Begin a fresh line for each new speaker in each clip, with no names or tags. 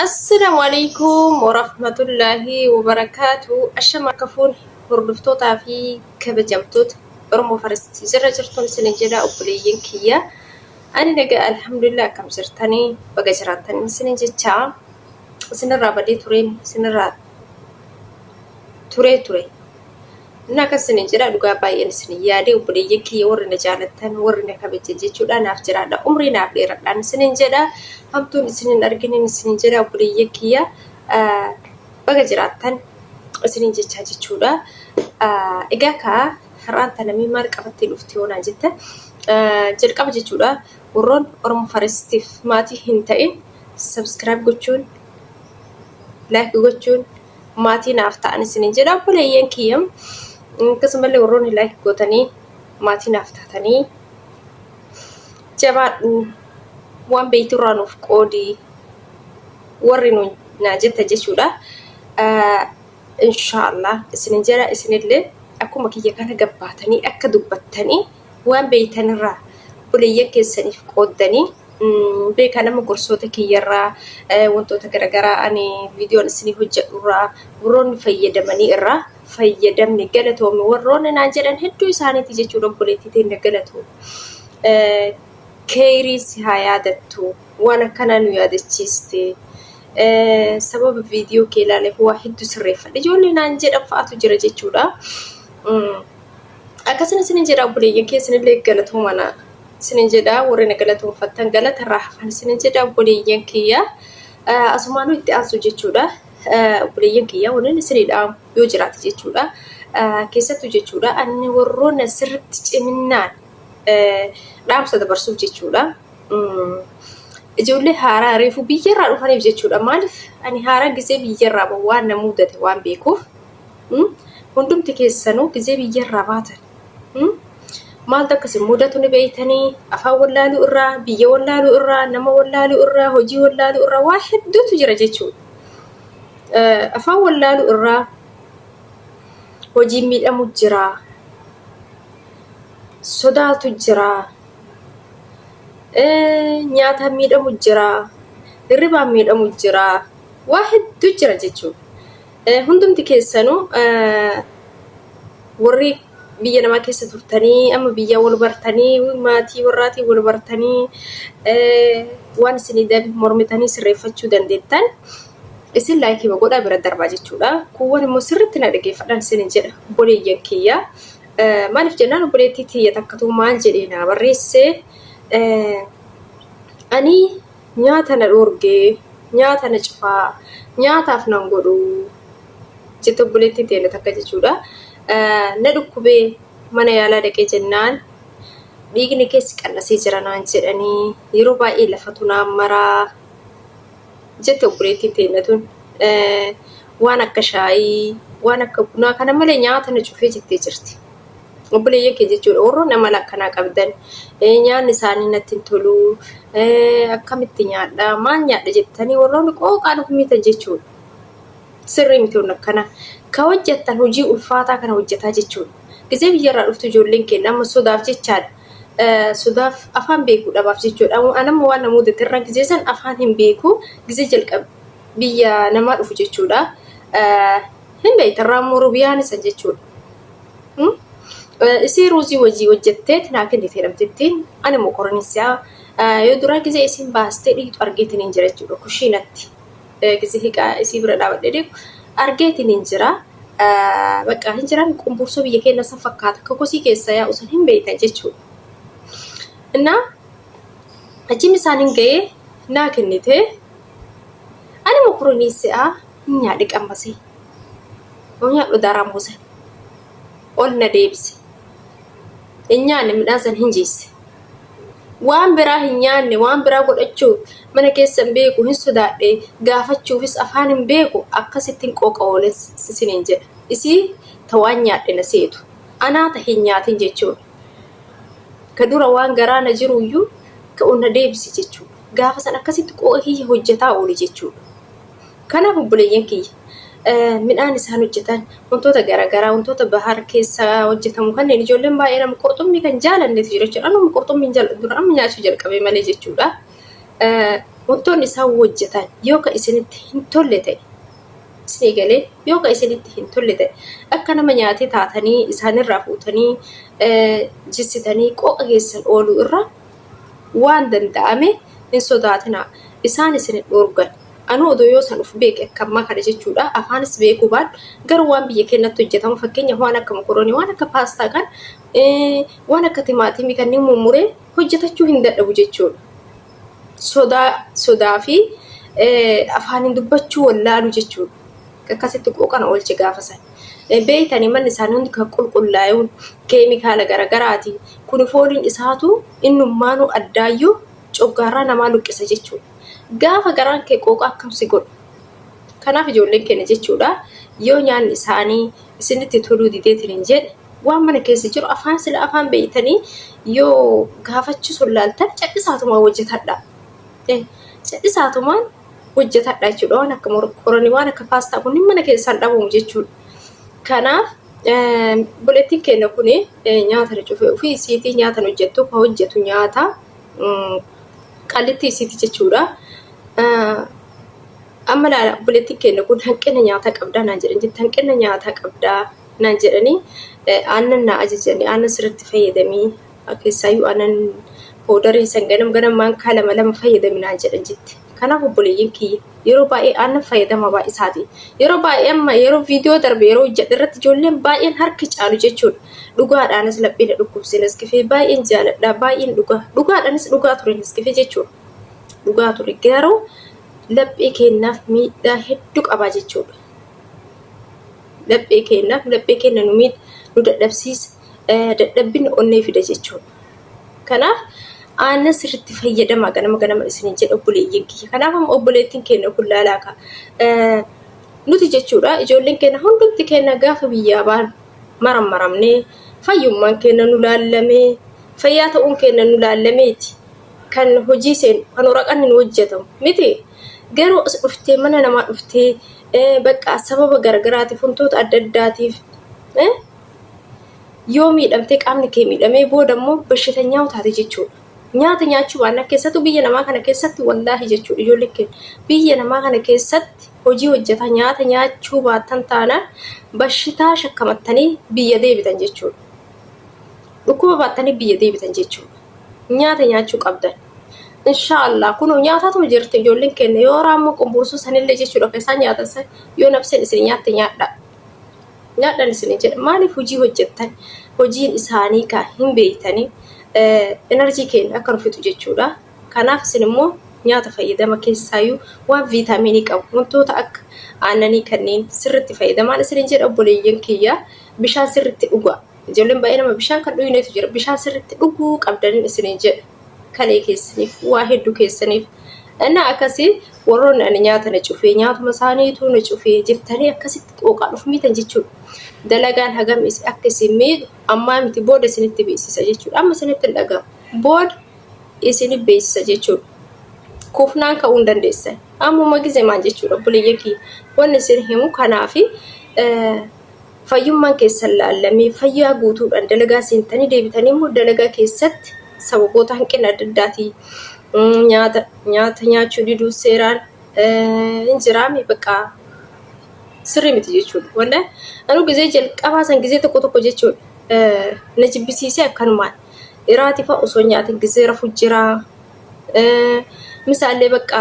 Assalamu alaikum warahmatullahi wabarakatuh. Ashama akka fuun hordoftootaa fi kabajamtoota Oromoo Faristi jirra jirtuun isin jedha obboleeyyiin kiyya. Ani nagaa alhamdulillah akkam jirtanii baga jiraattan isin jecha isinirraa badee tureen isinirraa turee ture. Inni akkas isiniin jedha dhugaa baay'een isin yaadee obboleeyyan kiyya warri na jaalattan warri na kabajan jechuudha naaf jiraadha umrii naaf dheeradhaan isiniin jedha hamtuun isin hin arginin isiniin jedha obboleeyyan kiyya baga jiraattan isiniin jechaa jechuudha. Egaa kaa har'aan tanamii maal qabattee dhufti yoonaan jette jalqaba jechuudha warroon Oromo Farestiif maatii hin ta'in sabskiraayib gochuun laayik gochuun maatii naaf ta'an isiniin jedha obboleeyyan kiyya akkasumallee warroonni laayik gootanii maatii naaf taatanii jabaadhu waan beekturraa nuuf qoodi warri nu naa jetta jechuudha. Inshaallah isinin jedha isinillee akkuma kiyya kana gabbaatanii akka dubbattanii Waan beektanirraa obboleeyyan keessaniif qooddanii beekaa nama gorsoota kiyyarraa wantoota garaagaraa ani viidiyoon isinii hojjedhurraa warroonni fayyadamanii irraa fayyadamni galatoomi warroonni naan jedhan hedduu isaaniiti jechuudha obboleettii teenya galatoomi. Keeyrii si haa yaadattu waan akkanaa nu yaadachiiste sababa viidiyoo kee ilaaleef waa hedduu sirreeffadhe ijoollee naan jedhan fa'aatu jira jechuudha. Akkasuma isinin jedha obboleeyyan kee isinillee galatoomana isinin jedha warri na galatoomfattan galata irraa hafan isinin jedha obboleeyyan kiyya asumaanuu itti aansu jechuudha. Obboleeyyan kiyya waliin isinii dhaamu yoo jiraate jechuudha. Keessattuu jechuudha anni warroona sirritti ciminaan dhaamsa dabarsuuf jechuudha. Ijoollee haaraa reefu biyyarraa dhufaniif jechuudha. Maaliif ani haaraa gisee biyyarraa waan na mudate waan beekuuf. Hmm? Hundumti keessanuu gizee biyyarraa baatan. Hmm? Maaltu akkasii mudatu ni beeytanii afaan wallaaluu irraa, biyya wallaaluu irraa, nama wallaaluu irraa, hojii wallaaluu irraa waa hedduutu jira jechuudha. Eh, Afaan wallaaluu irraa hojiin miidhamu jira, sodaatu jira, eh, nyaataan miidhamu jira, hirribaan miidhamu jira, waa hedduu jira jechuudha. Hundumti keessanuu warri biyya namaa keessa turtanii amma biyyaa wal bartanii maatii warraatiin wal bartanii waan isinii dabe mormitanii sirreeffachuu dandeettan isin laayikii godhaa bira darbaa jechuudha. Kuuwwan immoo sirriitti na dhageeffadhaan isin jedha obboleeyyan kiyya. Maaliif jennaan obboleettii tiyya takkatu maal jedhee naa barreesse ani Nyaata na dhoorge, nyaata na cufaa, nyaataaf nan godhu jette obboleettiin teenya takka jechuudha. Na dhukkubee mana yaalaa dhaqee jennaan dhiigni keessi qal'asee jira naan jedhanii yeroo baay'ee lafatu naan maraa jette obboleettiin teenya tun. Waan akka shaayii, waan akka bunaa kana malee nyaata na cufee jettee jirti. obboleeyyan kee jechuudha warroonni amala akkanaa qabdan nyaanni isaanii natti hin tolu akkamitti nyaadha maal nyaadha jettanii warroonni qooqaan of miitan jechuudha sirrii miti wanni akkana ka hojjettan hojii ulfaataa kana hojjetaa jechuudha gisee biyyarraa dhuftu ijoolleen keenya amma sodaaf jechaadha sodaaf afaan beekuu dhabaaf jechuudha anamma waan na mudate irra gisee san afaan hin beeku gisee jalqab biyya namaa dhufu jechuudha hin beektan raammoo rubiyaan isa jechuudha Isii ruuzii wajii hojjettee tinaa kennitee namtittiin ani mokoranii siyaa yoo duraa gizee isiin baastee dhiitu argeetiniin jira jechuudha kushiinatti gizee hiqaa isii bira dhaabadhee deemu argeetiniin jira bakka hin jiran qumbursoo biyya keenya san fakkaata kakosii keessa yaa usan hin beeytan jechuudha. Innaa achiin isaan hin ga'ee naa kennitee ani mokoranii siyaa hin nyaadhe qammasee. Yoo nyaadhu daaraan buuse. Ol na deebise. Hin nyaanne midhaan san hin jiisse. Waan biraa hin nyaanne waan biraa godhachuu mana keessa hin beeku hin sodaadhe gaafachuufis afaan hin beeku akkasittiin qooqa oolen sisiniin jedha. Isii ta waan nyaadhe na seetu. Anaa ta hin nyaatin jechuudha. Ka dura waan garaa na jiruyyuu ka ol na deebise jechuudha. Gaafa san akkasitti qooqa kiyya hojjetaa oole jechuudha. Kanaaf obboleeyyan kiyya midhaan isaan hojjetan wantoota garaagaraa wantoota bahar keessa hojjetamu kanneen ijoolleen baay'ee nama qurxummii kan jaalannetu jira jechuudha. Anuma qurxummii hin jaalladhu dura amma nyaachuu jalqabee malee jechuudha. Wantoonni isaan hojjetan yoo kan isinitti hin tolle ta'e isinii galee yoo kan isinitti hin tolle ta'e akka nama nyaatee taatanii isaanirraa fuutanii jissitanii qooqa keessan ooluu irra waan danda'ame hin sodaatinaa isaan isin hin dhoorgan. Anuu odoo yoo san uf beeke akka ammaa kana jechuudha afaanis beekuu baadhu garuu waan biyya keenyatti hojjetamu fakkeenyaaf waan akka mokoroonii waan akka paastaa kan waan akka timaatimii kanneen mummuree hojjetachuu hin dadhabu jechuudha. Sodaa sodaa fi afaaniin dubbachuu wallaalu jechuudha. Akkasitti qooqana oolche gaafa san. Beeytanii manni isaanii hundi kan qulqullaa'uun keemikaala garaagaraatiin kun fooliin isaatu innummaanuu addaayyuu coggaarraa namaa luqqisa jechuudha. Gaafa garaan kee qooqa akkam si godhu. Kanaaf ijoolleen keenya jechuudha yoo nyaanni isaanii isinitti toluu dideetiin hin jedhe waan mana keessa jiru afaan sila afaan beeytanii yoo gaafachuu sun laaltan cadhisaatumaa hojjetadha. Cadhisaatumaan hojjetadha jechuudha waan akka morqoranii waan akka paastaa kun mana keessaan dhabamu jechuudha. Kanaaf buleettiin keenya kun nyaata cufe ofii isiitii nyaatan hojjettu ka hojjetu nyaata. qallitti isiiti jechuudha. Amma laala obboleettiin keenya kun hanqina nyaataa qabdaa naan jedhan jetti hanqina nyaataa qabdaa naan jedhanii aannan naa ajajanii aannan sirriitti fayyadamii keessaayyuu aannan poodarii san ganam ganam maankaa lama lama fayyadami naan jedhan jetti. Kanaaf obboleeyyan kiyya yeroo baay'ee aannan fayyadama baay'isaati. Yeroo baay'ee amma yeroo viidiyoo darbe yeroo hojjedhe irratti ijoolleen baay'een harki caalu jechuudha. Dhugaadhaanis laphee na dhukkubse Nescafe baay'een jaaladha baay'een dhugaa dhugaadhaanis dhugaa ture Nescafe jechuudha. Dhugaa ture garuu laphee keenyaaf miidhaa hedduu qabaa jechuudha. Laphee keenyaaf laphee keenya nu miidha nu dadhabsiisa dadhabbina onnee fida jechuudha. Kanaaf aannan sirriitti fayyadamaa ganama ganama isiniin jedha obboleeyyiin kiyya. Kanaaf amma obboleettiin keenya kun laalaa ka. Nuti jechuudha ijoolleen keenya hundumti keenya gaafa biyyaa baan marammaramnee fayyummaan keenya nu laallamee fayyaa ta'uun keenya nu laallameeti kan hojii seenu kan waraqanni nu hojjetamu miti. Garuu as dhuftee mana namaa dhuftee bakka sababa garagaraatiif wantoota adda addaatiif Yoo miidhamtee qaamni kee miidhamee booda immoo bashitanyaa taate jechuudha. Nyaata nyaachuu baannaan keessattuu biyya namaa kana keessatti wallaahi jechuudha ijoolleen keenya. Biyya namaa kana keessatti hojii hojjetaa nyaata nyaachuu baattan taanaan bashitaa shakkamattanii biyya deebitan jechuudha. Dhukkuba baattanii biyya deebitan jechuudha. Nyaata nyaachuu qabdan. Inshaa Allah kunoo nyaataatuma jirti ijoolleen keenya yoo raammoo qumbursuu sanillee jechuudha kan isaan nyaatan san yoo nabseen isin nyaatte nyaadhaa. Nyaadhan isinin jedha maaliif hojii hojjettan hojiin isaanii kaa hin beeytanii energy keenya akka nu fixu jechuudha kanaaf isin immoo nyaata fayyadama keessaayyuu waan viitaaminii qabu wantoota akka aannanii kanneen sirritti fayyadamaan isinin jedha obboleeyyan kiyya bishaan sirritti dhugaa Ijoolleen baay'ee nama bishaan kan dhuynetu jira. Bishaan sirriitti dhuguu qabdaniin isiniin jedha. Kalee keessaniif, waa hedduu keessaniif. Innaa akkasii warroonni ani nyaata na cufee, nyaatuma isaaniitu na cufee jettanii akkasitti qooqaan of miitan jechuudha. Dalagaan hagam is- akka isin miidhu ammaa miti booda isinitti beeksisa jechuudha. Amma isinitti hin dhaga'amu. Booda isin beeksisa jechuudha. Kufnaan ka'uu hin dandeessan. Ammuma gizemaan jechuudha obboleeyyan kiyya. Wanni isin himu kanaafi eh, fayyummaan keessan laallamee fayyaa guutuudhaan dalagaa seentanii deebitanii immoo dalagaa keessatti sababoota hanqina adda addaatiin nyaata nyaata nyaachuu diduu seeraan hin jiraame bakka sirrii miti jechuudha. Walla anuu gizee jalqabaa san gizee tokko tokko jechuudha na jibbisiisee akkanumaan iraatii fa'a osoo nyaatin gizee rafu jiraa misaallee bakka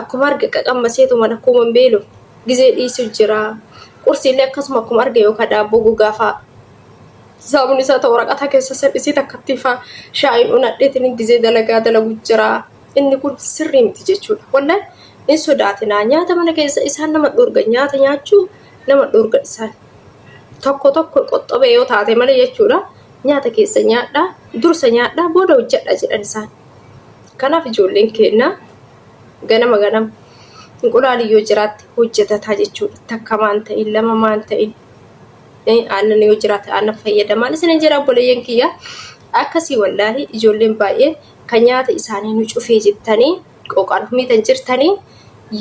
akkuma arga qaqammaseetuman akkuma beelu gizee dhiisu jira. Qursiillee akkasuma akkuma arge yookaan daabboo gogaa fa'a. Saamuun isaa ta'u waraqataa keessa salphisee takkattii fa'a shaayiin unadheetiin gizee dalagaa dalagu jira. Inni kun sirrii miti jechuudha. Wallaan hin sodaatinaa. Nyaata mana keessa isaan nama dhorga. Nyaata nyaachuu nama dhorga isaan. Tokko tokko qoxxobee yoo taate malee jechuudha. Nyaata keessa nyaadhaa, dursa nyaadhaa, booda hojjedhaa jedhan isaan. Kanaaf ijoolleen keenya ganama ganama inqulaali yoo jiraatte hojjetataa jechuudha. Takka maan ta'in lama maan ta'in aannan yoo jiraate aannan fayyadamaan isin hin jedha obboleeyyan kiyya. Akkasii wallaahi ijoolleen baay'ee kan nyaata isaanii nu cufee jettanii qooqaan humiitan jirtanii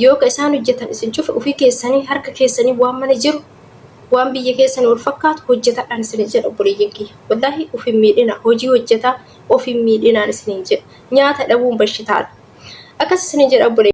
yoo ka isaan hojjetan isin cufe ofii keessanii harka keessanii waan mana jiru waan biyya keessanii wal fakkaatu hojjetadhaan isin jedha obboleeyyan kiyya. Wallaahi of hin miidhina hojii hojjetaa of hin miidhinaan isiniin jedha. Nyaata dhabuun bashitaadha. Akkas isiniin jedha obboleeyyan.